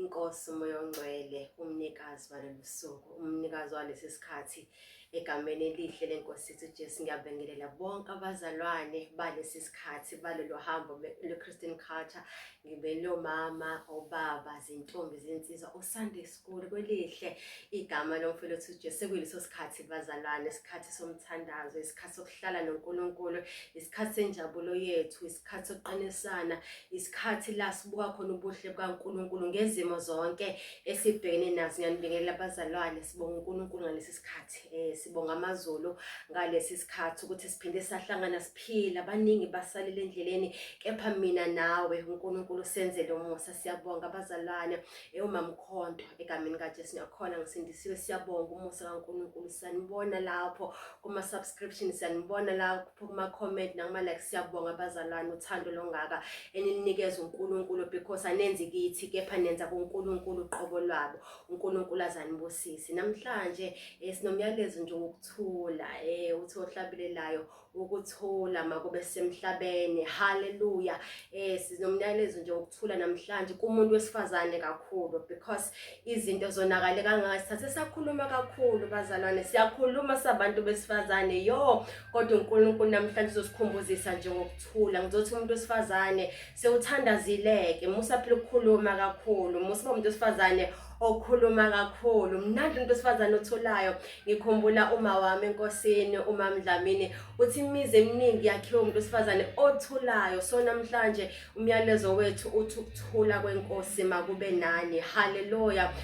inkosi umoya ongcwele umnikazi walolu suku umnikazi walesi sikhathi egameni elihle lenkosi yethu Jesu ngiyabingelela bonke abazalwane balesi sikhathi balolu hambo lwe-Christian culture ngibelo mama obaba zintombi zinsizwa uSunday school kwelihle igama lomfowethu Jesu kuyileso sikhathi bazalwane isikhathi somthandazo isikhathi sokuhlala noNkulunkulu isikhathi senjabulo yethu isikhathi sokuqinisana isikhathi la sibuka khona ubuhle bukaNkulunkulu ngezimo zonke esibhekene nazo ngiyanibingelela abazalwane sibonga uNkulunkulu ngalesi sikhathi eh sibonga amazulu ngalesi sikhathi ukuthi siphinde sahlangana siphila abaningi basalile endleleni kepha mina nawe uNkulunkulu senzele umusa siyabonga abazalwane Eyo mamkhonto egameni kaJesu ngiyakhona ngisindisiwe siyabonga umusa kaNkulunkulu siyanibona lapho kuma subscription siyanibona lapho kuma comment nakuma like siyabonga abazalwane uthando longaka enilinikeza uNkulunkulu because anenzi kithi kepha nenza kuNkulunkulu uqobo lwabo uNkulunkulu azanibusisi namhlanje eh, sinomyalezo nje wokuthula eh uthi ohlabilelayo ukuthula makube semhlabeni haleluya eh sinomnyalezo nje ukuthula namhlanje kumuntu wesifazane kakhulu because izinto zonakale kangaka sithathe sakhuluma kakhulu bazalwane siyakhuluma sabantu besifazane yo kodwa uNkulunkulu namhlanje uzosikhumbuzisa nje ngokuthula ngizothi umuntu wesifazane sewuthandazileke musa phela ukukhuluma kakhulu musa umuntu wesifazane okhuluma kakhulu mnandi umuntu wesifazane otholayo ngikhumbula uma wami enkosini uma mdlamini uthi imizi eminingi yakhiwe umuntu wesifazane othulayo so namhlanje umyalezo wethu uthi ukuthula kwenkosi makube nani haleluya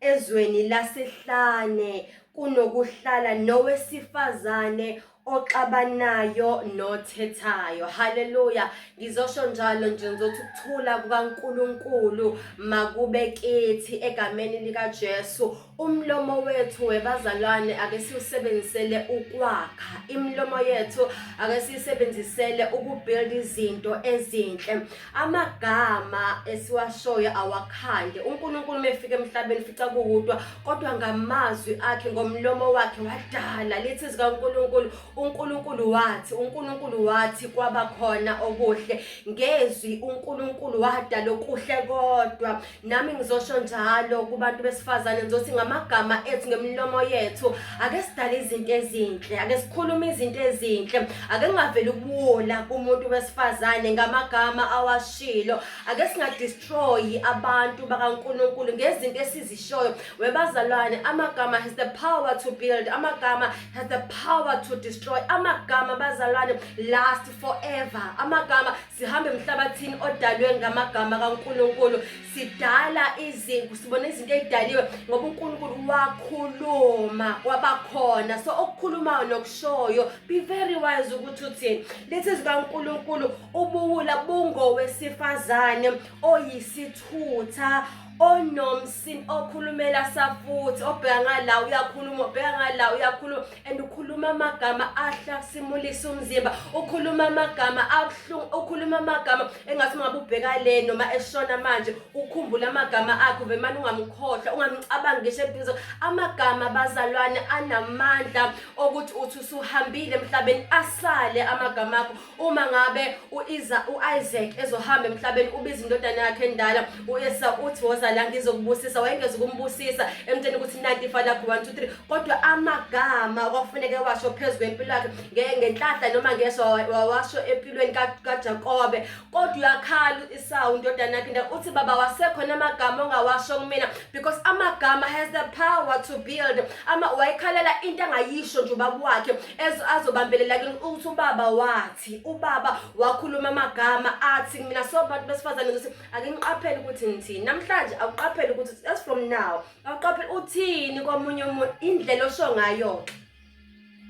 ezweni lasehlane kunokuhlala nowesifazane oxabanayo nothethayo haleluya ngizosho njalo nje ngizothi ukuthula kukaNkuluNkulu makube kithi egameni likaJesu umlomo wethu webazalwane ake siwusebenzisele ukwakha imilomo yethu ake siyisebenzisele ukubuild izinto ezinhle amagama esiwashoyo awakhande uNkulunkulu mefika emhlabeni fica kuwudwa kodwa ngamazwi akhe ngomlomo wakhe wadala lithi zika uNkulunkulu uNkulunkulu wathi uNkulunkulu wathi kwaba khona okuhle ngezwi uNkulunkulu wadala okuhle kodwa nami ngizosho njalo kubantu besifazane ngizothi ngamagama ethu ngemilomo yethu ake sidale izinto ezinhle ake sikhulume izinto ezinhle ake ngaveli ukuwola kumuntu wesifazane ngamagama awashilo ake singadestroyi abantu bakaNkuluNkulu ngezinto esizishoyo webazalwane amagama has the power to build amagama has the power to destroy amagama bazalwane last forever amagama sihambe emhlabathini odalwe ngamagama kaNkulunkulu sidala izinto sibona izinto ezidaliwe ngoba uNkulunkulu wakhuluma kwabakhona so okukhulumayo nokushoyo be very wise ukuthi uthini lethi zikaNkulunkulu ubuwula bungowesifazane oyisithutha onomsini okhulumela safuthi obheka ngala uyakhuluma obheka ngala uyakhuluma and ukhuluma amagama ahlasimulisa umzimba ukhuluma amagama abuhlungu ukhuluma amagama engathi ungabe ubheka le noma eshona manje ukhumbula amagama akho vemane ungamkhohlwa ungamcabanga ngisho ebuzo amagama bazalwane anamandla okuthi uthi usuhambile emhlabeni asale amagama akho uma ngabe uiza uIsaac ezohamba emhlabeni ubiza indodana yakhe endala uEsa uthi woza la ngizokubusisa wayengeza ukumbusisa emtsheni ukuthi nanti ifa lakho 1 2 3 kodwa amagama kwakufuneke washo phezu kwempilo yakhe ngenhlahla noma ngeso wawasho empilweni kaJakobe kodwa uyakhala isawu indodana yakhe nda uthi baba wasekho namagama ongawasho kumina because amagama has the power to build ama wayekhalela into angayisho nje ubaba wakhe azobambelela kini ukuthi ubaba wathi ubaba wakhuluma amagama athi mina so bantu besifazane ukuthi ake niqaphele ukuthi ngithini namhlanje akuqaphele ukuthi as from now awuqaphele uthini komunye umuntu indlela osho ngayo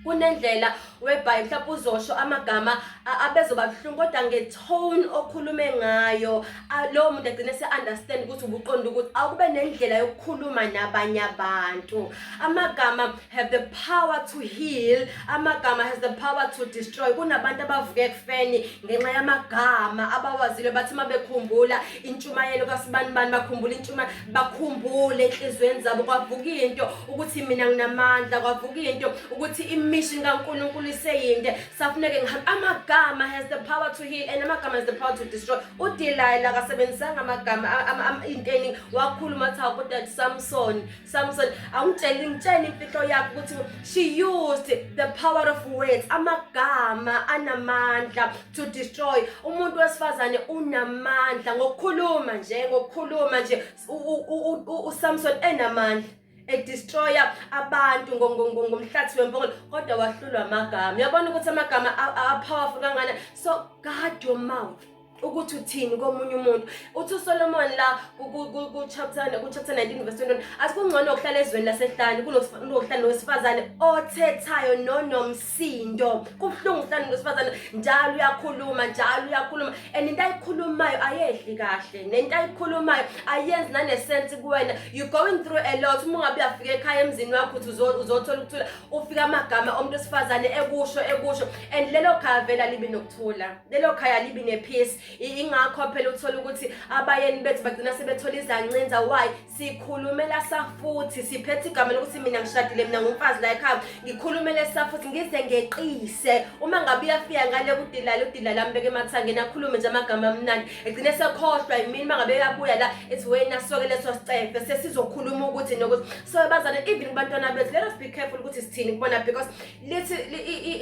kunendlela webhayi mhlawumbe uzosho amagama abezoba buhlungu kodwa ngetone okhulume ngayo lowo muntu agcine se-understand ukuthi ubuqonda ukuthi awukube nendlela yokukhuluma nabanye abantu amagama have the power to heal amagama has the power to destroy kunabantu abavuke ekufeni ngenxa yamagama abawazile bathi uma bekhumbula intshumayelo kasibani bani bakhumbula intshuma bakhumbule enhliziyweni zabo kwavuka into ukuthi mina nginamandla kwavuka into ukuthi imission kaNkulunkulu iseyinde safuneke ngihamba amagama has the power to heal and amagama has the power to destroy uDelilah akasebenzisanga amagama inteni wakhuluma athi awukodwa Samson Samson awungitsheli ngitshela imfihlo yakho ukuthi she used the power of words amagama anamandla to destroy umuntu wesifazane unamandla ngokukhuluma nje ngokukhuluma nje uSamson enamandla edestroya abantu ngomhlathi wempongolo kodwa wahlulwa amagama uyabona ukuthi amagama apowerful kangana so guard your mouth ukuthi uthini komunye umuntu uthi usolomon la kuchapter kuchapter 19 verse 21 asikungcono ukuhlala ezweni lasehlane kunokuhlala nowesifazane othethayo nonomsindo kubuhlungu ukuhlala nowesifazane njalo uyakhuluma njalo uyakhuluma and into ayikhulumayo ayehli kahle nento ayikhulumayo ayenzi nanesense kuwena you going through a lot uma ungabe uyafika ekhaya emzini wakho uthi uzothola ukuthula ufika amagama omuntu wesifazane ekusho ekusho and lelo khavela libe nokuthula lelo khaya libi nepeace ingakho phela uthola ukuthi abayeni bethu bagcina sebethola izancinza why sikhulumela safuthi siphethe igama lokuthi mina ngishadile mina ngumfazi la ekhaya ngikhulumele safuthi ngize ngeqise uma ngabe uyafika ngale kudilala udilala ambeke emathangeni akhulume nje amagama amnandi egcine sekhohlwa yimini uma ngabe uyabuya la ethi wena soke leso sicefe sesizokhuluma ukuthi nokuthi so bazane even kubantwana bethu let us be careful ukuthi sithini kubona because lithi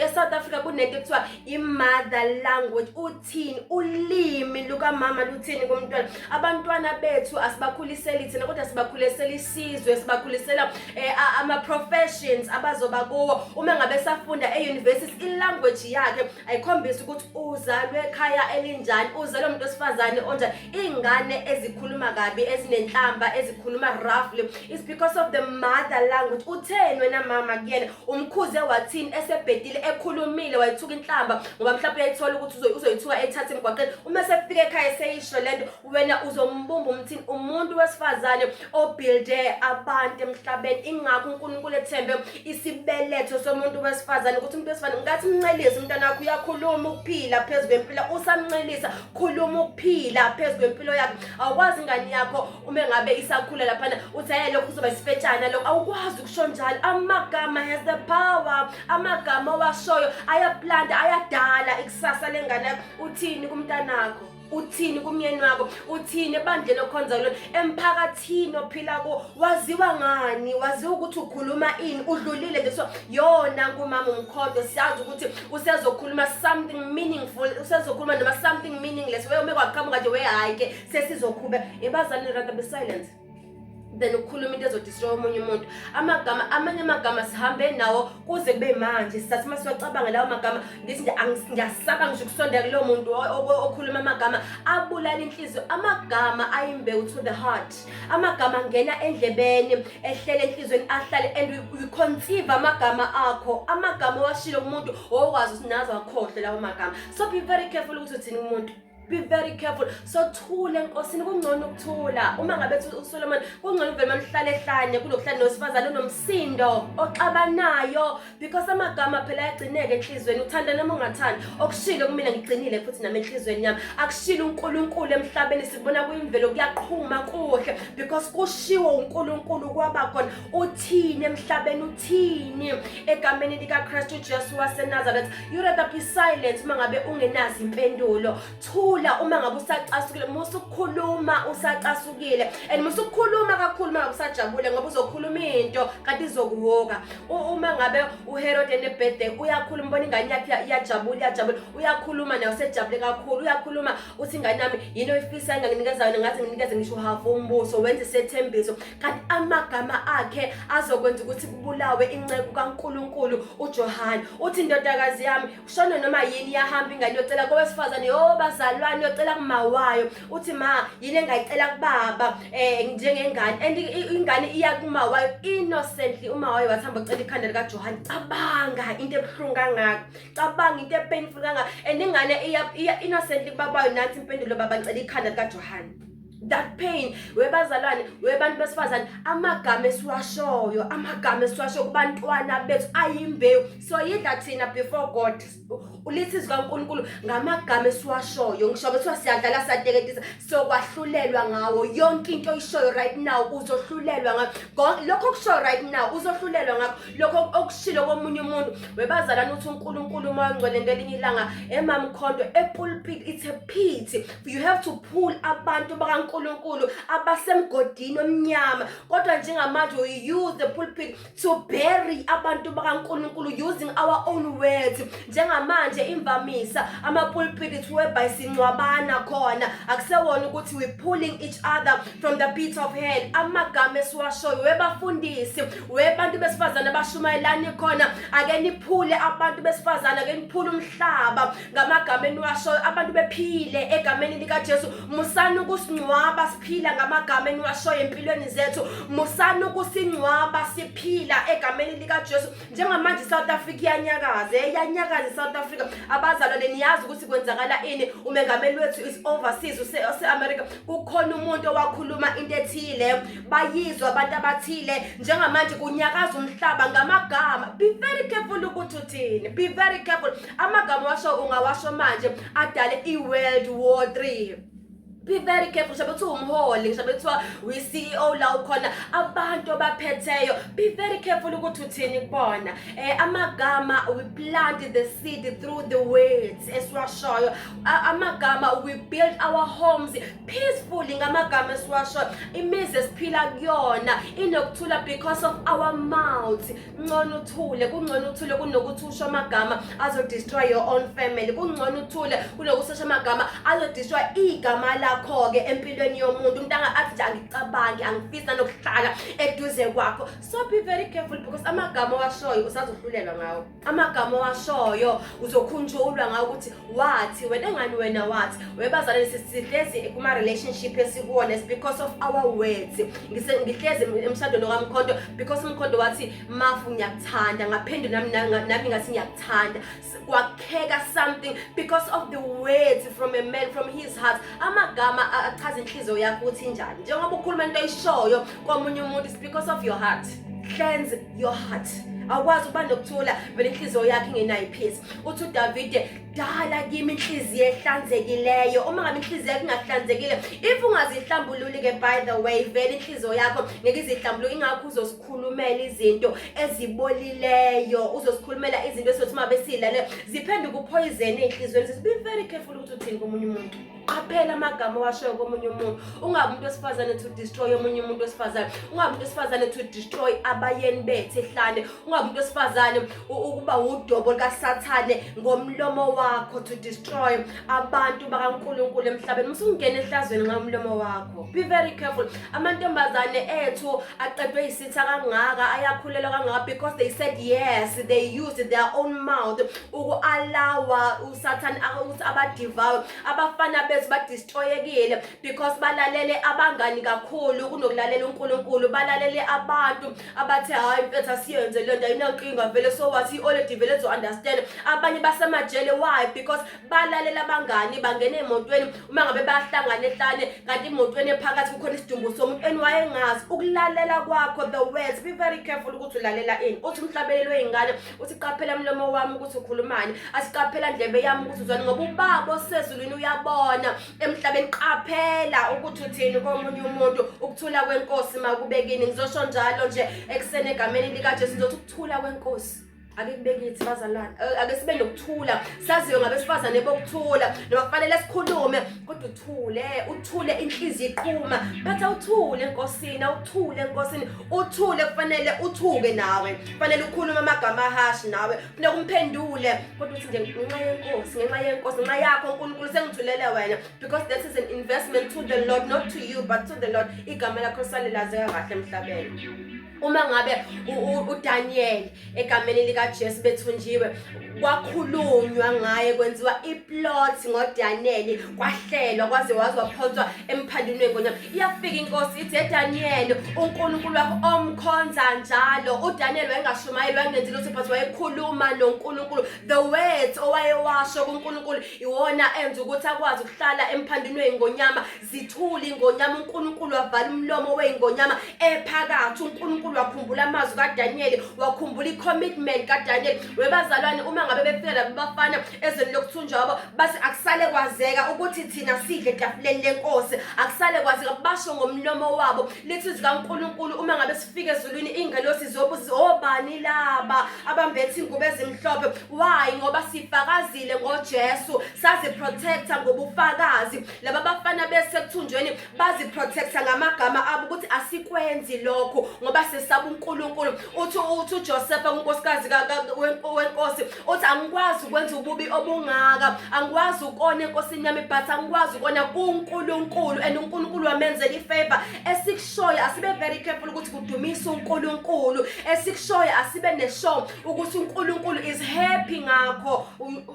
e-south africa kunento ekuthiwa i-mother language uthini ulimi lukamama luthini komntwana abantwana bethu asibakhuliseli thina kodwa sibakhulisela isizwe sibakhulisela um eh, ama-professions abazoba kuwo uma ngabe safunda e-university ilanguage yakhe ayikhombisa ukuthi uzalwe ekhaya elinjani uzalwe umuntu wesifazane onjani iy'ngane ezikhuluma kabi ezinenhlamba ezikhuluma roughly is because of the mother language utheni wena mama kuyena umkhuze wathini esebhedile ekhulumile wayithuka inhlamba ngoba mhlawumbe uyayithola ukuthi uzoyithuka ethathe emgwaqeni uma sefika ekhaya seyisho lento wena uzombumba umthini umuntu wesifazane obuilde abantu emhlabeni ingakho uNkulunkulu ethembe isibeletho somuntu wesifazane ukuthi umuntu wesifazane ngathi mncelise umntana wakho uyakhuluma ukuphila phezulu kwempilo usamncelisa khuluma ukuphila phezulu kwempilo yakhe awukwazi ingane yakho uma engabe isakhula laphana uthi aye lokhu uzoba isifetshana lokho awukwazi ukusho njalo amagama has the power amagama owashoyo ayaplanta ayadala ikusasa lengane yakho uthini kumntanakho uthini kumyeni wakho uthini ebandleni okhonza kulona emphakathini ophila kuwo waziwa ngani waziwa ukuthi ukhuluma ini udlulile nje so yona kumama umkhondo siyazi ukuthi usezokhuluma something meaningful usezokhuluma noma something meaningless weyome kwaqhamuka nje wehayike sesizokhube yebazali rather be silent then ukukhuluma into ezodistroy omunye umuntu amagama amanye amagama sihambe nawo kuze kube manje sisathi uma siwacabanga lawo magama ngithi nje ngiyasaba ngisho ukusondela kulowo muntu okhuluma amagama abulala inhliziyo amagama ayimbewu to the heart amagama angena endlebeni ehlele enhliziyweni ahlale and we conceive amagama akho amagama owashilo umuntu owazi usinazo akhohle lawo magama so be very careful ukuthi uthini umuntu be very careful so thule enkosini kungcono ukuthula uma ngabe uSolomon kungcono uvele mamhlale ehlanye kunokuhlala nowesifazane onomsindo oxabanayo because amagama phela ayagcineka enhlizweni uthanda noma ungathandi okushilo kumina ngigcinile futhi nami enhlizweni yami akushilo uNkulunkulu emhlabeni sikubona kuyimvelo kuyaqhuma kuhle because kushiwo uNkulunkulu kwaba khona uthini emhlabeni uthini egameni likaKristu Jesu waseNazareth You rather be silent uma ngabe ungenazi impendulo. Thula uma ngabe usacasukile, musa ukukhuluma usacasukile. And musa ukukhuluma kakhulu uma ngabe usajabule ngoba uzokhuluma into kanti izokuhoka. Uma ngabe uHerod enebirthday uyakhuluma ubona ingane yakhe iyajabula iyajabula. Uyakhuluma nayo sejabule kakhulu. Uyakhuluma uthi ingane yami yini oyifisa enganginikeza yona ngathi nginikeze ngisho half umbuso wenze sethembiso. kanti amagama akhe azokwenza ukuthi kubulawe inceku kaNkuluNkulu uJohane uthi indodakazi yami ushona noma yini yahamba ingane yocela kowesifazane yo bazalwane yocela kumawayo uthi ma yini engayicela kubaba eh njengengane and ingane iya kumawayo innocently umawayo wathamba ucela ikhanda lika Johan cabanga into ebuhlungu kangaka cabanga into epainful kangaka and ingane iya innocently kubabayo nathi impendulo baba ngicela ikhanda lika Johan that pain webazalwane webantu besifazane amagama esiwashoyo amagama esiwashoyo kubantwana bethu ayimbewu soyidla thina before god ulithi zikankulunkulu ngamagama esiwashoyo ngisho kuthiwa siyadlala siyateketisa sokwahlulelwa ngawo yonke into oyishoyo right now uzohlulelwa ngakho lokho okushoyo right now uzohlulelwa ngakho lokho okushilo komunye umuntu webazalwane uthi unkulunkulu uma ongcwele ngelinye ilanga emamkhondo epulpit it's a pity you have to pull abantu bakaNkulunkulu abasemgodini omnyama kodwa njengamanje we use the pulpit to bury abantu bakaNkulunkulu using our own words njengamanje imvamisa amapulpit is whereby sincwabana khona akusewona ukuthi we pulling each other from the pit of hell amagama esiwashoyo webafundisi webantu besifazane abashumayelani khona ake niphule abantu besifazane ake niphule umhlaba ngamagama eniwashoyo abantu bephile egameni likaJesu musani ukusingcwaba siphila ngamagama eniwashoyo empilweni zethu musani ukusingcwaba siphila egameni likaJesu njengamanje iSouth Africa iyanyakaza iyanyakaza iSouth Africa abazalwane niyazi ukuthi kwenzakala ini umengameli wethu is overseas use-America kukhona umuntu owakhuluma into ethile bayizwa abantu abathile njengamanje kunyakaza umhlaba ngamagama be very careful ukuthi uthini be very careful amagama washo ungawasho manje adale i-world war three be very careful ngisho bethiwa umholi ngisho bethiwa wi-ceo la ukhona abantu abaphetheyo be very careful ukuthi uthini kubona um amagama we plant the seed through the words esiwashoyo amagama we build our homes peacefully ngamagama esiwashoyo imizi esiphila kuyona inokuthula because of our mouth kungcono uthule kungcono uthule kunokuthi usho amagama azodestroy your own family kungcono uthule kunokuthi usho amagama azodestroy igama lakho-ke empilweni yomuntu umuntu athi nje angicabangi angifisi nanokuhlala eduze kwakho so be very careful because amagama owashoyo usazohlulelwa ngawo amagama owashoyo uzokhunjulwa ngawo ukuthi wathi wena ngani wena wathi webazalwane sihlezi kuma-relationship esikuwona is because of our words ngihlezi emshadweni okamkhonto because umkhonto wathi mafu ngiyakuthanda ngaphinde nami nami ngathi ngiyakuthanda kwakheka something because of the words from a man from his heart amagama achaza inhliziyo yakho ukuthi njani njengoba ukhuluma into oyishoyo komunye umuntu is because of your heart cleanse your heart awukwazi ukuba nokuthula vele inhliziyo yakho ingenayo ipeace uthi uDavide dala kimi inhliziyo ehlanzekileyo uma ngabe inhliziyo yakho ingahlanzekile if ungazihlambululi ke by the way vele inhliziyo yakho ngeke izihlambuluke ingakho uzosikhulumela izinto ezibolileyo uzosikhulumela izinto esothi uma besilale ziphenduka uphoyizeni ey'nhliziyweni be very careful ukuthi uthini komunye umuntu qaphela amagama owashoyo komunye umuntu ungabi umuntu wesifazane to destroy omunye umuntu wesifazane ungabi umuntu wesifazane to destroy abayeni bethu ehlane ungabi umuntu wesifazane ukuba wudobo likasathane ngomlomo wakho to destroy abantu bakankulunkulu emhlabeni musungena ehlazweni nxa umlomo wakho be very careful amantombazane ethu aqedwe yisitha kangaka ayakhulelwa kangaka because they said yes they used their own mouth uku-alawa sathane ukuthi abadivawe abafana bethu badistroyekile because balalele abangani kakhulu kunokulalela unkulunkulu balalele abantu abathi hhayi mfethu asiyenze le nto ayinankinga vele so wathi i-oledi vele zo-understand abanye basemajele why because balalela abangani bangena emotweni uma ngabe bahlangane hlane kanti imotweni ephakathi kukhona isidumbu somuntu eniwayengazi ukulalela kwakho the words be very careful ukuthi ulalela ini uthi umhlabelelwe ingane uthi qaphela mlomo wami ukuthi ukhulumani asiqaphela ndlebe yami ukuthi uzwani ngoba ubaba osezulwini uyabona emhlabeni qaphela ukuthi uthini komunye umuntu ukuthula kwenkosi makubekini ngizosho njalo nje ekuseni egameni likajesu ngizothi ukuthula kwenkosi ake kubekithi bazalwane ake sibe nokuthula saziwe ngabesifazane bokuthula noma kufanele sikhulume kodwa uthule uthule inhliziyo iqhuma bathi awuthule enkosini awuthule enkosini uthule kufanele uthuke nawe kufanele ukhulume amagama ahashi nawe kufuneka umphendule kodwa uthi nje ngenxa yenkosi ngenxa yenkosi ngenxa yakho unkulunkulu sengithulele wena because that is an investment to the lord not to you but to the lord igama lakho salilazeka kahle emhlabeni uma ngabe uDaniel egameni likaJesu bethunjiwe kwakhulunywa ngaye kwenziwa iplot ngoDaniel kwahlelwa kwaze waze waphonswa emphandunweni ngonyama iyafika inkosi ithi eDaniel uNkulunkulu wakho omkhonza njalo uDaniel wayengashumayeli wayengenzi lutho but wayekhuluma noNkulunkulu the words owayewasho kuNkulunkulu iwona enza ukuthi akwazi ukuhlala emphandunweni ngonyama zithule ingonyama uNkulunkulu wavala umlomo weingonyama ephakathi uNkulunkulu wakhumbula amazwi kaDaniyeli wakhumbula icommitment kaDaniyeli webazalwane uma ngabe befika labo bafana ezweni lokuthunjwa wabo base akusale kwazeka ukuthi thina sidle etafuleni lenkosi akusale kwazeka basho ngomlomo wabo lithi zikaNkulunkulu uma ngabe sifike ezulwini ingelosi zobuzi obani laba abambethe ingubo ezimhlophe why ngoba sifakazile ngoJesu sazi protector ngobufakazi laba bafana besekuthunjweni baziprotecta ngamagama abo ukuthi asikwenzi lokho ngoba sesaba uNkulunkulu uthi uthi uJoseph unkosikazi wenkosi uthi angikwazi ukwenza ububi obungaka angikwazi ukona enkosini yami but angikwazi ukona kuNkulunkulu and uNkulunkulu wamenzela ifavor esikushoyo asibe very careful ukuthi kudumisa uNkulunkulu esikushoyo asibe neshow ukuthi uNkulunkulu is happy ngakho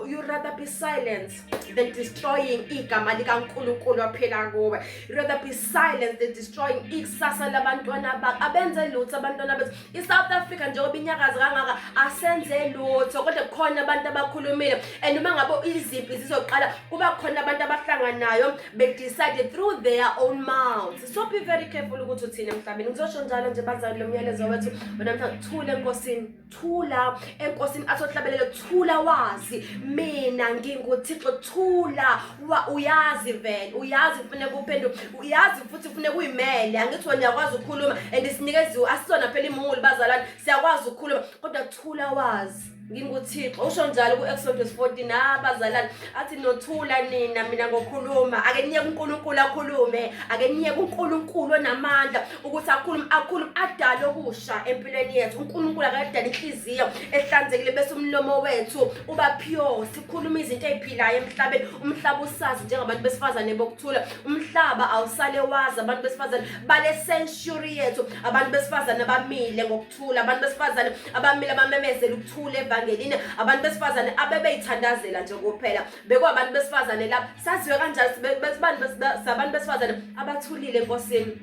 you rather be silent the destroying igama likaNkulunkulu waphila kuwe rather be silent the destroying ikusasa labantwana bakho abenze lutho abantwana bethu i-south africa njengoba inyakazi kangaka asenze lutho kodwa kukhona abantu abakhulumile and uma ngabe izimpi zizoqala kuba khona abantu abahlanganayo bedecide through their own mouths so be very careful ukuthi uthini emhlabeni ngizosho njalo nje bazali lo myalezo wethu wena mhlawumbe thule enkosini thula enkosini asohlabelele thula wazi mina nginguthixo thula wa uyazi vele uyazi kufuneka uphenduke uyazi futhi kufuneka uyimele angithi wena uyakwazi ukukhuluma and sinikeziwe asizona phela imungulu bazalwane siyakwazi ukukhuluma kodwa thula wazi nginguthixo usho njalo ku-exodus 14 abazalane athi nothula nina mina ngokhuluma ake niyeke unkulunkulu akhulume ake niyeke unkulunkulu onamandla ukuthi akhulume akhulume adale okusha empilweni yethu unkulunkulu akadala inhliziyo ehlanzekile bese umlomo wethu uba pure sikhuluma izinto ey'philayo emhlabeni umhlaba usazi njengabantu besifazane bokuthula umhlaba awusale wazi abantu besifazane bale century yethu abantu besifazane abamile ngokuthula abantu besifazane abamile abamemezela ukuthula evangelini abantu besifazane abebeyithandazela nje kuphela bekwabantu besifazane lapha saziwe kanjani sabantu besifazane abathulile enkosini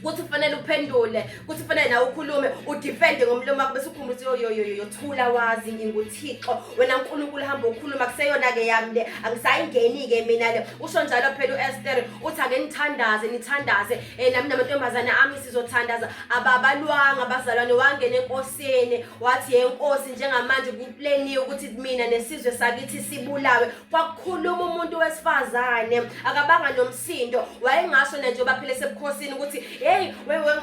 kuthi kufanele uphendule kuthi kufanele nawe ukhulume udefende ngomlomo wakho bese ukhumbuza yoyoyoyo thula wazi nginguthixo wena nkulunkulu hamba ukhuluma kuseyona-ke yami le angisayingeni-ke mina le usho njalo phela u-ester uthi ake nithandaze nithandaze um nami namantombazane ami sizothandaza ababalwanga abazalwane wangena enkosini wathi yenkosi njengamanje pleni yokuthi mina nesizwe sakithi sibulawe kwakukhuluma umuntu wesifazane akabanga nomsindo wayengasho nje baphile sebukhosini ukuthi hey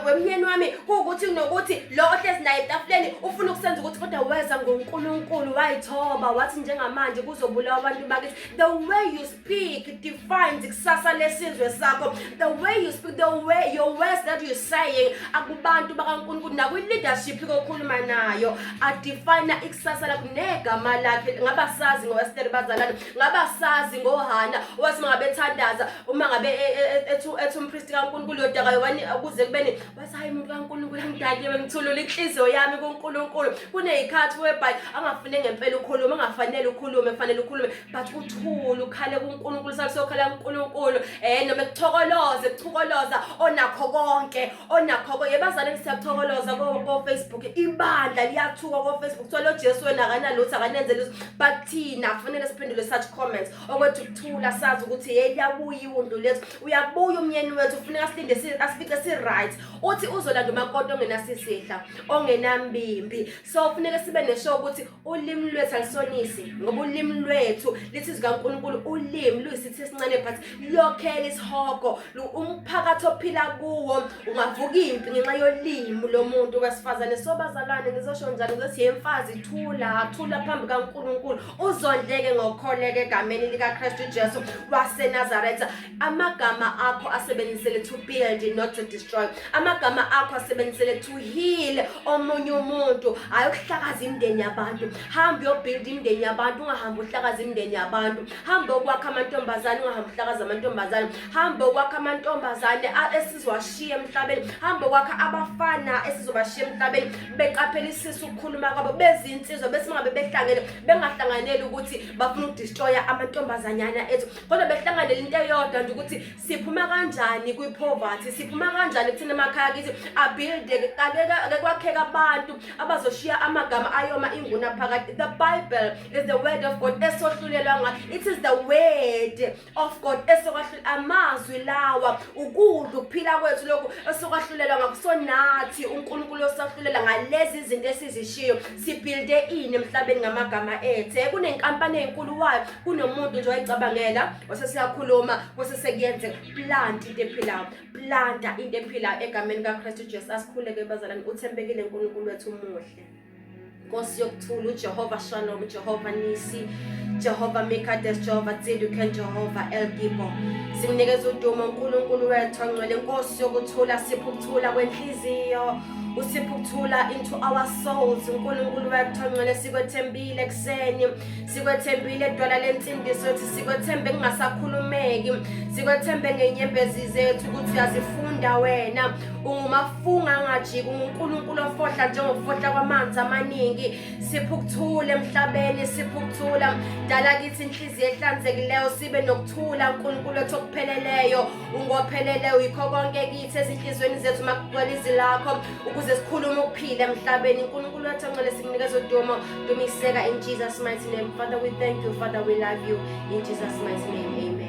wemnyeni wami kuwukuthi nokuthi lo ohlezi naye etafuleni ufuna ukusenza ukuthi kodwa weza ngoNkulunkulu wayithoba wathi njengamanje kuzobulawa abantu bakithi the way you speak defines kusasa lesizwe sakho the way you speak the way your words that you saying akubantu bakaNkulunkulu nakwi-leadership kokhuluma nayo adefine ikusasa lakho negama lakhe ngabasazi ngowesteri bazalana ngabasazi ngohana owathi mangabethandaza uma ngabe e, e, e, ethu ethu umpristi kaNkulunkulu yodakayo wani ukuze kubeni wathi hayi umuntu kaNkulunkulu ngidaliwe ngithulula inhliziyo yami kuNkulunkulu kunezikhathi webhayi angafune ngempela ukhuluma angafanele ukhulume kufanele ukhulume but uthule ukhale kuNkulunkulu sase ukhala kuNkulunkulu eh noma kuthokoloze kuthokoloza onakho konke onakho konke bazaleni siyathokoloza ko ko Facebook ibandla liyathuka ko Facebook thola uJesu wena akanalutho akanenze lutho but thina kufanele siphendule such comments okwethu ukuthula sazi ukuthi hey liyabuya iwundu lethu uyabuya umyeni wethu kufuneka silinde asifice si right uthi uzolanda umakoti ongenasisihla ongenambimbi so kufuneka sibe nesho ukuthi ulimi lwethu alisonisi ngoba ulimi lwethu lithi zikaNkulunkulu ulimi luyisithi esincane but lokhela isihogo umphakathi ophila kuwo ungavuka impi ngenxa yolimi lomuntu wesifazane so bazalwane ngizosho njani ukuthi yemfazi thula thula phambi kaNkulunkulu uzondleke ngokholeka egameni likaKristu Jesu waseNazaretha amagama akho asebenzisele to build not to destroy amagama akho asebenzisele to heal omunye umuntu hayi ukuhlakaza imndeni yabantu hamba uyobuild imndeni yabantu ungahambi uhlakaza imndeni yabantu hamba ukwakha amantombazane ungahambi uhlakaza amantombazane hamba ukwakha amantombazane esizowashiya emhlabeni hamba ukwakha abafana esizobashiya emhlabeni beqaphela isisu ukukhuluma kwabo bezinsizwa besingabe behlangene bengahlanganeli ukuthi bafuna ukudestroya amantombazanyana ethu kodwa behlanganele into eyodwa nje ukuthi siphuma kanjani kwi-poverty siphuma kanjani kuthina emakhaya kithi abuilde ake kwakheka abantu abazoshiya amagama ayoma inguna phakathi the bible is the word of god esohlulelwa ngayo it is the word of god esokwahlula amazwi lawa ukudla ukuphila kwethu lokhu esokwahlulelwa ngakusonathi unkulunkulu osahlulela ngalezi izinto esizishiyo sibuilde ini emhlabeni ngamagama ethe kunenkampani enkulu wayo kunomuntu nje wayicabangela wase siyakhuluma kwase sekuyenzeka plant into ephilayo planta into ephilayo egameni kaKristu Jesu asikhuleke bazalwane uthembekile uNkulunkulu wethu umuhle Nkosi yokuthula uJehova Shalom Jehova Nisi Jehova Mikades Jehova Tsiduken Jehova El Gibo Simnikeza udumo uNkulunkulu wethu ongcwele Nkosi yokuthula sipha ukuthula kwenhliziyo usipha ukuthula into our souls uNkulunkulu wethu ongcwele sikwethembile kuseni sikwethembile dwala lensindiso ethi sikwethembe kungasakhulumeki sikwethembe ngenyembezi zethu ukuthi yazifunda wena ungumafunga angajiki ungunkulunkulu ofohla njengokufohla kwamanzi amaningi siphe ukuthula emhlabeni siphe ukuthula dala kithi inhliziyo ehlanzekileyo sibe nokuthula nkulunkulu ethu okupheleleyo ungopheleleyo yikho konke kithi ezinhliziyweni zethu makugcwele izi lakho ukuze sikhulume ukuphila emhlabeni unkulunkulu wathi ancele simnikeza udumo dumiseka in jesus mighty name father we thank you father we love you in jesus mighty name